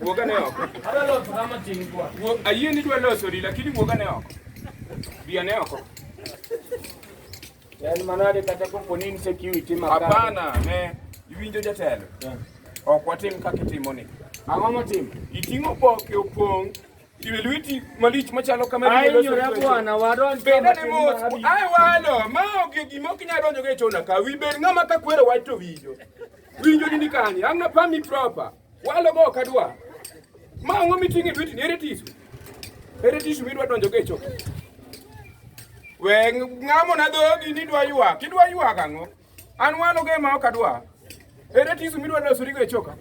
Wuoga ne oko. Adwa loso kama tin kwa. Ayie ni dwa loso ri lakini wuoga ne oko. Bia ne oko. Yaani manade kata kopo ni insecurity makana. Hapana, ne iwinjo jatelo. Yeah. Ok watim kaka itimoni. Ang'o motim? Iting'o boke opong' Kiwilwiti malich machalo kama Ai nyora bwana wadon bende ne mos ai walo ma onge gima ok nyalo donjo e chona ka wi bed ng'ama ka kwero wach to winjo winjo ni kani ang na pami proper walo go kadwa ma ngo miting e lweti ere tisu ere tisu midwa donjo e chona we ng'amo na dhogi ni dwa ywak idwa ywak ang'o An wano ge ma ok adwa. Ere tisu midwa losorigo e choka?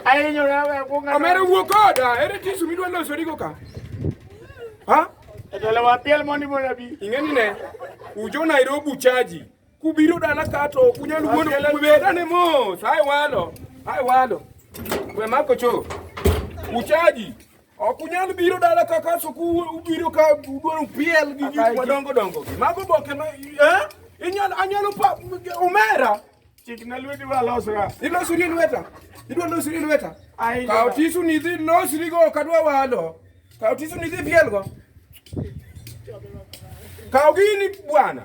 Ahinyora we akwonga. Omera wuo koda. Ere tisu midwa losorigo ka? Ha? Etele wa piel mondi mondo abi. Ing'eni ne. Ujo Nairobi uchaji. Kubiro dala ka to kunyal wuondo kubera ne mos. Hai walo. Hai walo. We mako cho. Uchaji. Ok unyal biro dala kaka suku ubiro ka udwaro piel gi gik madongo dongo. Mago boke ma eh? Inyal anyalo pa umera. Chik na lweti wa losra. Ilosi ni lweta. Idwa losi ni lweta. Ai. Ka otisu ni dhi losi ni go kadwa walo. Ka otisu ni dhi piel go. Ka ogini bwana.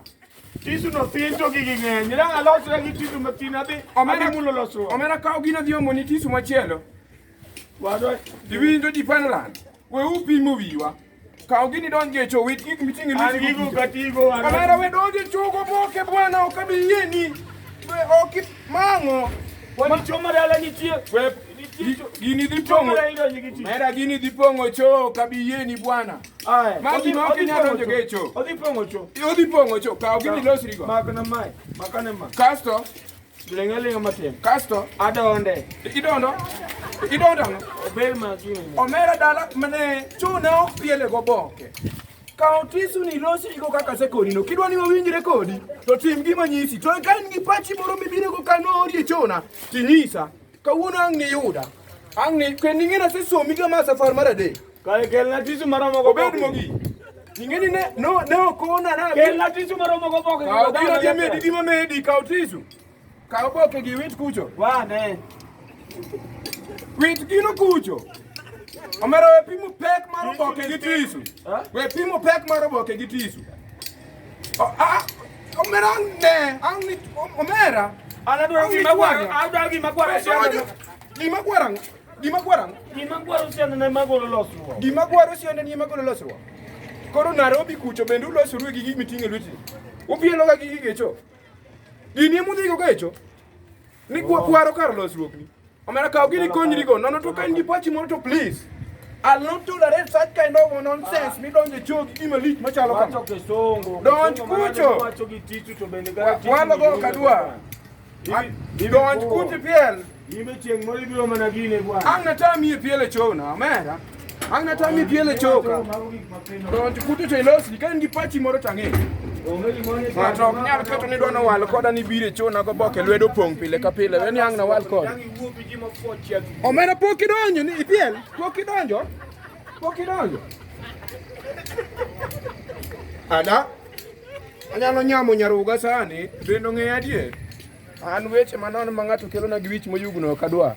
Tisu no piny to gigi ng'eny. Ila alosra gi tisu matin adhi. Omera mulo losruok. Omera ka ogina dhi omoni tisu machielo. Wadwa, iwinjo ji pano lando. We upimo wiwa. Kaw gini donj e cho wit gik miting'o e lweti. Gigo katigo. Kamera we donj e chogo moke bwana ok abi yieni. We ok mang'o. Wani choma dala nitie. We gini dhi pong'o. Mera gini dhi pong'o cho ok abi yieni bwana. Aya. Ma gima ok inyal donjo e cho. Odhi pong'o cho. Odhi pong'o cho. Kaw gini losrigo. Makna mai. Makane ma. Kasto Giling' aling' matin. Kasto adonde. Idondo? Idondo ang'o? Obel makini. Omera dala mane chune ok piele go boke. Kaw tisuni losnigo kaka sekorino. Kidwa ni wawinjre kodi, to tim gima nyisi. To ka in gi pachi moro mibiro go kano odiechieng'na, tinyisa. Kawuono ang' niyuda. Ang' ni kendo ing'e nasesomi kama safar mar adek. Kae kelna tisu mara moko. Obed mogi. Ing'e ni ne no ne okona na. Kelna tisu mara moko boke. Kaw biro gi medi gi mamedi kaw tisu. Kaw boke gi wit kucho. Wa ne. Wit gino kucho. Omero we pimo pek mar oboke gi tisu. We pimo pek mar oboke gi tisu. Omera ne, angni omera. Ala dwaro gima gwaro, ala dwaro gima gwaro. Gima gwaro. Gima gwaro. Gima gwaro siende ne magolo losruok. Gima gwaro siende ne magolo losruok. Koro Nairobi kucho bende ulosoru gi gik miting'e lweti. Upielo ga gi gigecho. Gini emudhigo gecho. Ni kwa kwaro kar losruok ni. Omera kaw gini konyri go. Nono to kan gi pachi moro to please. I'll not tolerate such kind of nonsense mi donje chogi gima lich machalo kama. Wacho kisongo. Donj kucho. Wacho gi tichu to bende ga. Walo go kadwa. Donj kucho piel. Ibe chieng' moro ibiro mana gine bwana. Ang' natami e piele chona, omera. Ang na tami piele choka. Don kuto to ilos ni kan gipachi moro tange. Ng'ato ok nyal keto ni dwano wal koda ni bire chona go boke lwedo pong pile ka pile. Wen yang na wal koda. Omera pok idonjo ni ipiel. Pok idonjo. Pok idonjo. Ada. Anyalo nyamo nyaruga sani. Bendo ng'e adier. An weche manon ma ng'ato kelona gi wich moyugno kadwa.